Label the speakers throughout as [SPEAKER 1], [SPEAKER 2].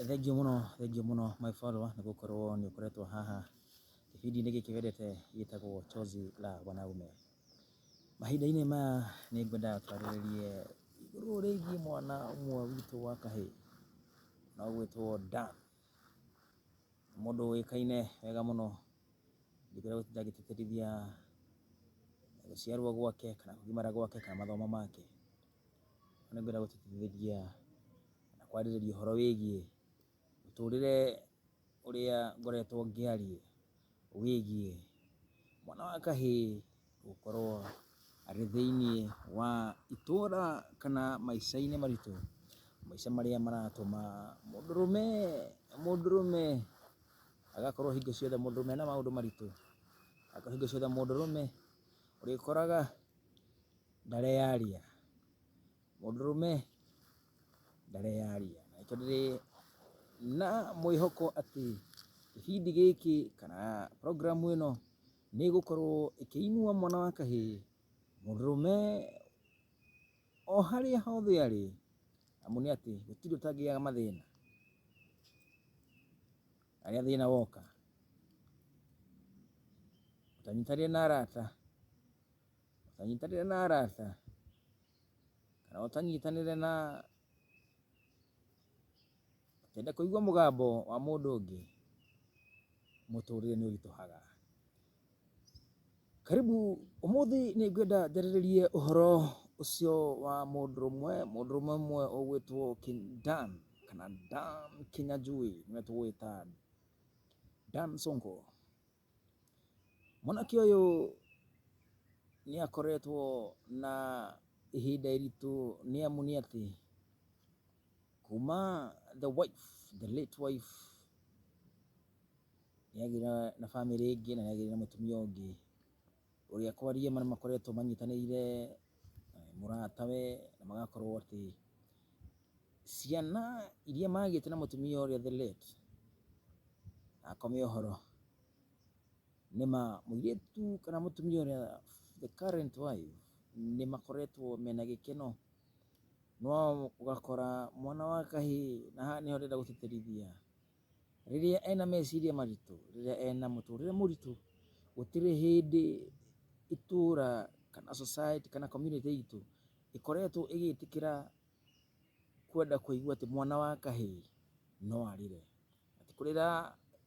[SPEAKER 1] Thengiũ mũno, thengiũ mũno my follower nĩ gũkorwo nĩ ũkoretwo haha kĩbindi-inĩ gĩkĩ wendete gĩtagwo Chozi la Wanaume. Mahinda-inĩ maya nĩ ngwenda twarĩrĩrie igũrũ rĩgiĩ mwana ũmwe witũ wa kahĩĩ na ũgwĩtwo Dan. Nĩ mũndũ ũĩkaine wega mũno, ndingĩenda gũtinda ngĩtĩtĩrithia gũciarwo gwake kana kũgimara gwake kana mathomo make. Nĩ ngwenda gũtũteithĩria na kwarĩrĩria ũhoro wĩgiĩ mũtũrĩre ũrĩa ngoretwo ngĩaria wĩgiĩ mwana wa kahĩĩ gũkorwo arĩ thĩinĩ wa itũra kana maica-inĩ maritũ, maica marĩa maratũma mũndũrũme, mũndũrũme agakorwo hingo ciothe mũndũrũme ena maũndũ maritũ, agakorwo hingo ciothe mũndũrũme ũrĩkoraga... Ndareyaria. Mũndũrũme ndareyaria. Na nĩkĩo ndĩrĩ na mwĩhoko atĩ gĩbindi gĩkĩ kana program ĩno nĩ ĩgũkorwo ĩkĩinua mwana wa kahĩĩ, mũndũrũme o harĩa hothe arĩ, amu nĩ atĩ gũtirĩ ũtangĩaga mathĩna. Na rĩrĩa thĩna woka, ũtanyitanĩre na arata ũtanyitanĩre na arata, kana ũtanyitanĩre na, ndũkende kũigua mũgambo wa mũndũ ũngĩ, mũtũrĩre nĩ ũritũhaga. Karibu, ũmũthĩ nĩ ngwenda njarĩrĩrie ũhoro ũcio wa mũndũrũmwe, mũndũrũme ũmwe ũgwĩtwo Dan, kana Dan Kĩnyanjui nĩwe tũgwĩta Dan Sonko. Mwanake ũyũ nĩ akoretwo na ihinda iritũ nĩ amu nĩ atĩ, kuma the wife, the late wife nĩ agĩire na bamĩrĩ ĩngĩ na nĩ agĩire na mũtumia ũngĩ. Ũrĩa kwariĩ marĩa makoretwo manyitanĩire mũratawe na magakorwo atĩ ciana iria magĩte na mũtumia ũrĩa the late akome ũhoro, nĩ ma mũirĩtu kana mũtumia ũrĩa the current wife nĩ makoretwo mena gĩkeno, no ũgakora mwana wa kahĩĩ, na haha nĩho ndĩrenda gũtĩtĩrithia, rĩrĩa ena meciria maritũ, rĩrĩa ena mũtũrĩre mũritũ, gũtirĩ hĩndĩ itũra kana society kana community itũ ĩkoretwo ĩgĩtĩkĩra kwenda kũigua atĩ mwana wa kahĩĩ no arĩre. Atĩ kũrĩra,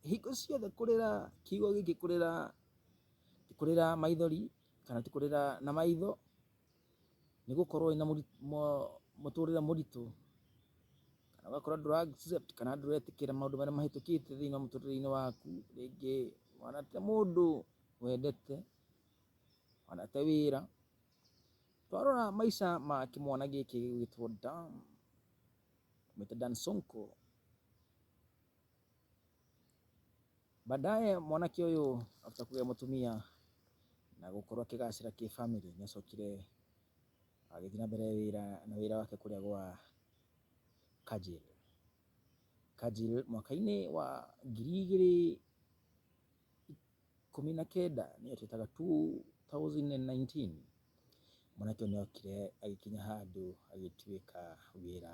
[SPEAKER 1] hingo ciothe kũrĩra, kiugo gĩkĩ kũrĩra, ti kũrĩra maithori kana ti kũrĩra na maitho. nĩ gũkorwo wĩna mũtũrĩre mũritũ, kana ũgakora ndũra accept kana ndũretĩkĩra maũndũ marĩa mahĩtũkĩte thĩinĩ wa mũtũrĩre-inĩ waku, rĩngĩ wanate mũndũ wendete, wanate wĩra, twarora maica ma kĩmwana gĩkĩ gĩgwĩtwo Dan, tũmũĩte Dan Sonko. Baadaye mwanake ũyũ after kũgĩa mũtumia na gũkorwo akĩgacĩra kĩbamĩrĩ, nĩ acokire agĩthiĩ na mbere na wĩra wake kũrĩa gwa Kajil. Kajil mwaka-inĩ wa ngiri igĩrĩ ikũmi na kenda nĩyo twĩtaga two thousand and nineteen, mwanake ũyũ nĩ okire agĩkinya handũ agĩtuĩka wĩra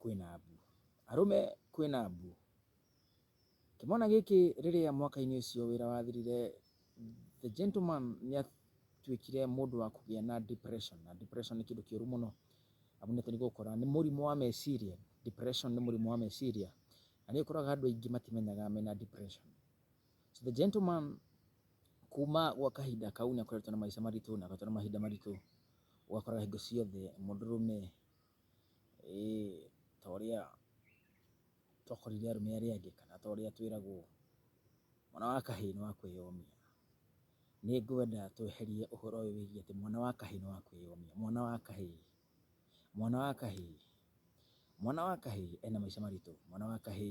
[SPEAKER 1] Kwĩna mbu. Arũme, kwĩna mbu. Kĩmwana gĩkĩ rĩrĩa mwaka-inĩ ũcio wĩra wathirire, the gentleman nĩ atuĩkire mũndũ wa kũgĩa na depression, na depression nĩ kĩndũ kĩũru mũno, amu nĩ tũgũkora nĩ mũrimũ wa meciria, depression nĩ mũrimũ wa meciria, na nĩ ũkoraga andũ aingĩ matimenyaga mena depression. So the gentleman kuma gwa kahinda kau nĩ akoretwo na maica maritũ, nĩ akoretwo na mahinda maritũ, ũgakora hingo ciothe mũndũrũme ta ũrĩa twakũrire arũme arĩa angĩ kana ta ũrĩa twĩragwo mwana wa kahĩ nĩ wa kwĩyomia. Nĩ ngwenda tweherie ũhoro ũyũ wĩgiĩ atĩ mwana wa kahĩ nĩ wa kwĩyomia, mwana wa kahĩ, mwana wa kahĩ, mwana wa kahĩ ena maica maritũ, mwana wa kahĩ.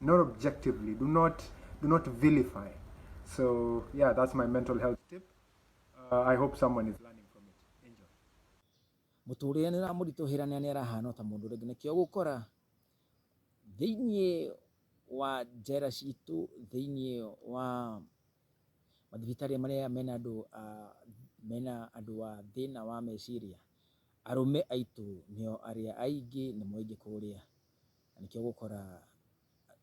[SPEAKER 1] not objectively do not do not vilify so yeah that's my mental health tip uh, i hope someone is learning from it enjoy mũtũrĩre nĩ ũramũritũhĩra na nĩ arahana ta mũndũ rĩngĩ nĩkĩo gũkora thĩinĩ wa njera citũ thĩinĩ wa mathibitarĩ marĩa mena andũ mena andũ a thĩna wa meciria arũme aitũ nĩo arĩa aingĩ nĩ moingĩ kũrĩa Na nĩkĩo ũgũkora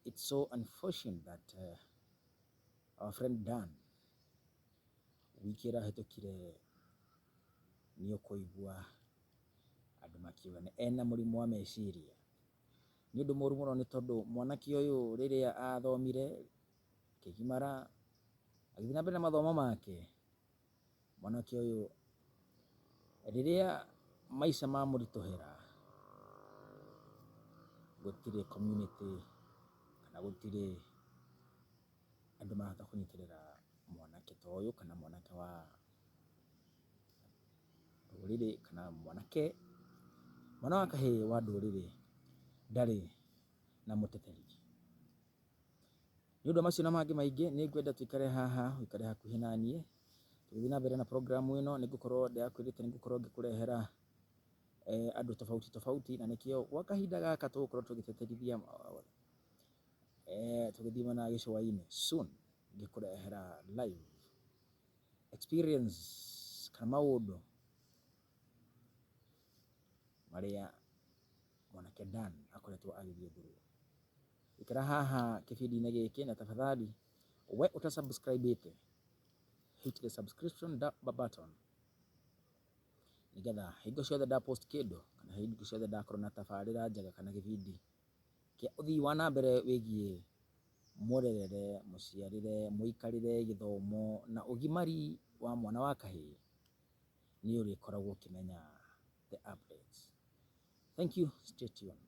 [SPEAKER 1] it's so unfortunate that uh, our friend Dan wiki ĩrĩa hĩtũkire nĩ ũkũigua andũ makiuga nĩ ena mũrimũ wa meciria. Nĩ ũndũ mũru mũno nĩ tondũ mwanake ũyũ rĩrĩa athomire akĩgimara agĩthiĩ na mbere na mathomo make Mwanake ũyũ rĩrĩa maica mamũritũhĩra, gũtirĩ community kana gũtirĩ andũ marahota kũnyitĩrĩra mwanake ta ũyũ kana mwanake wa rũrĩrĩ kana mwanake, mwana wa kahĩĩ wa ndũrĩrĩ ndarĩ na mũteteri. Nĩ ũndũ wa macio na mangĩ maingĩ, nĩ ngwenda tũikare haha, ũikare hakuhĩ na niĩ. Tũgĩthiĩ na mbere na program ĩno, nĩ ngũkorwo ndĩrakwĩrĩte nĩ ngũkorwo ngĩkũrehera andũ tofauti tofauti, na nĩkĩo gwa kahinda gaka tũgũkorwo tũgĩteterithia tũgĩthiĩ mwena wa gĩcũa-inĩ. Soon ngĩkũrehera live experience kana maũndũ. marĩa mwanake Dan akoretwo agĩthiĩ through. Ikĩra haha kĩbindi-inĩ gĩkĩ na tafadhali we ũta subscribe ĩte hit the subscription button nĩgetha hingo ciothe nda post kĩndũ kana hingo ciothe ndakorwo na tabarĩra njega kana gĩbindi kĩa ũthii wa na mbere wĩgiĩ mũrerere, mũciarĩre, mũikarĩre, gĩthomo na ũgimari wa mwana wa kahĩĩ. nĩ ũrĩkoragwo ũkĩmenya the updates. Thank you, stay tuned.